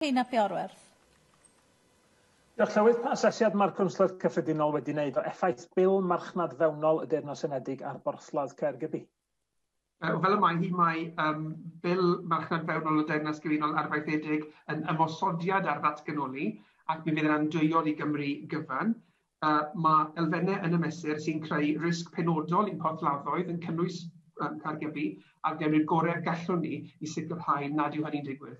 Heina Fiorwerth. Diolch, Llywydd. Pa asesiad mae'r Cwnsler Cyffredinol wedi wneud o effaith Bil marchnad fewnol y Deyrnas Unedig ar borthladd Caergybi? Wel, fel y mae hi, mae um, Bil marchnad fewnol y Deyrnas Gyfunol arfaethedig yn ymosodiad ar ddatganoli ac mi fydd yn andwyol i Gymru gyfan. Uh, mae elfennau yn y mesur sy'n creu risg penodol i'n porthladdoedd yn cynnwys um, Caergybi a gynnu'r gorau gallwn ni i sicrhau nad yw hynny'n digwydd.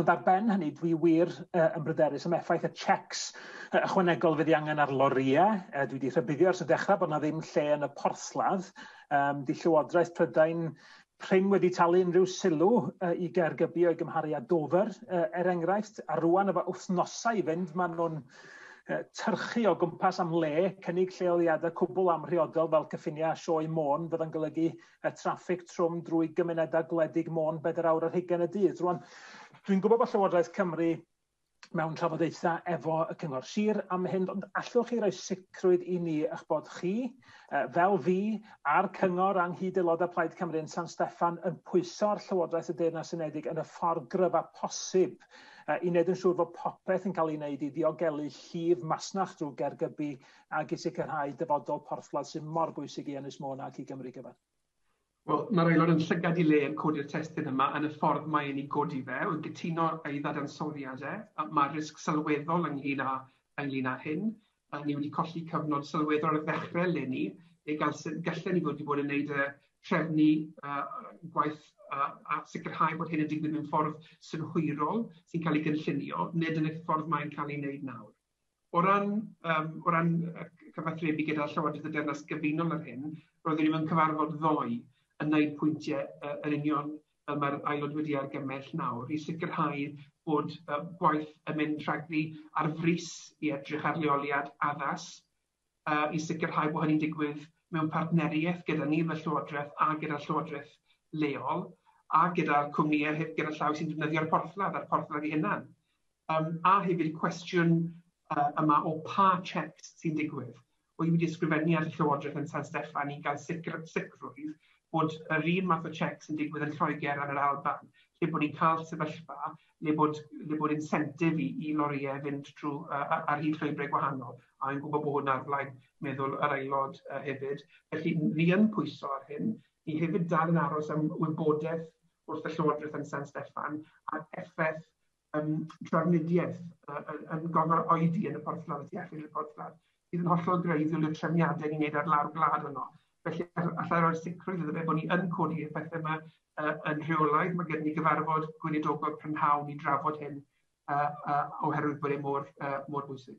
Ond ar ben hynny, dwi wir uh, yn bryderus am effaith y checks uh, ychwanegol fydd i angen ar lorïau. Uh, dwi wedi rhybuddio ers y dechrau bod yna ddim lle yn y porthladd. Um, di Llywodraeth Prydain Prin wedi talu unrhyw sylw uh, i Gaergybi o'i gymharu â Dover, uh, er enghraifft, a rwan efo wythnosau i fynd, maen nhw'n uh, tyrchu o gwmpas am le, cynnig lleoliadau cwbl amhriodol fel cyffiniau sioe môn, fydda'n golygu y traffig trwm drwy gymunedau gwledig Môn bedair awr ar hugain y dydd. Rwan, dwi'n gwybod bod Llywodraeth Cymru mewn trafodaethau efo y Cyngor Sir am hyn, ond allwch chi roi sicrwydd i ni eich bod chi, uh, fel fi, a'r Cyngor a'n hyd aelodau Plaid Cymru yn San Steffan yn pwyso ar Llywodraeth y Deyrnas Unedig yn y ffordd gryf a posib uh, i wneud yn siŵr fod popeth yn cael ei wneud i ddiogelu llif masnach drwy gergybu ac i sicrhau dyfodol porthladd sydd mor bwysig i Ynys Môn ac i Gymru gyfan. Wel, mae'r Aelod yn llygad i le yn codi'r testun yma yn y ffordd mae e'n ei godi fe, wy'n cytuno â'i ddadansoddiad e, mae'r risg sylweddol ynglŷn â ynglŷn â hyn, ni wedi colli cyfnod sylweddol ar ddechrau eleni, neu galsen, gallen ni fod wedi bod yn gwneud y trefnu gwaith a sicrhau bod hyn yn digwydd mewn ffordd synhwyrol sy'n cael ei gynllunio, nid yn y ffordd mae'n cael ei wneud nawr. O ran yym o ran yy cyfathrebu gyda Llywodraeth y Deyrnas Gyfunol ar hyn, roeddwn i mewn cyfarfod ddoe yn wneud pwyntiau yy yn union fel mae'r Aelod wedi argymell nawr i sicrhau bod yy gwaith yn mynd rhagddi ar frys i edrych ar leoliad addas i sicrhau bod hynny'n digwydd mewn partneriaeth gyda ni fel Llywodraeth a gyda'r Llywodraeth leol a gyda'r cwmnïau heb gyrraedd llaw sy'n defnyddio'r porthladd a'r porthladd ei hunan. Yym a hefyd y cwestiwn yy yma o pa checks sy'n digwydd. Wy wedi ysgrifennu at y Llywodraeth yn San Steffan i gael sicr- sicrwydd bod yr un math o checks yn digwydd yn Lloegr a'n yr Alban lle bod ni'n cael sefyllfa le bod, le bod incentive i, i lorïau fynd trwy uh, ar hyd llwybrau gwahanol, a yn gwybod bod na'r blaid meddwl yr aelod uh, hefyd. Felly, ni yn pwyso ar hyn, ni hefyd dal yn aros am wybodaeth wrth y Llywodraeth yn San Steffan a'r effaith um, trafnidiaeth uh, yn, yn gofal oedi yn y porthladd y tu allan i'r porthladd. sydd yn hollol greiddiol i'r trefniadau ni'n neud ar lawr gwlad yno. Felly allai roi'r sicrwydd iddo fe bod ni yn codi y pethau yma uh, yn rheolaidd. Mae gen ni gyfarfod gweinidogol prynhawn i drafod hyn uh, uh, oherwydd bod e mor, uh, mor bwysig.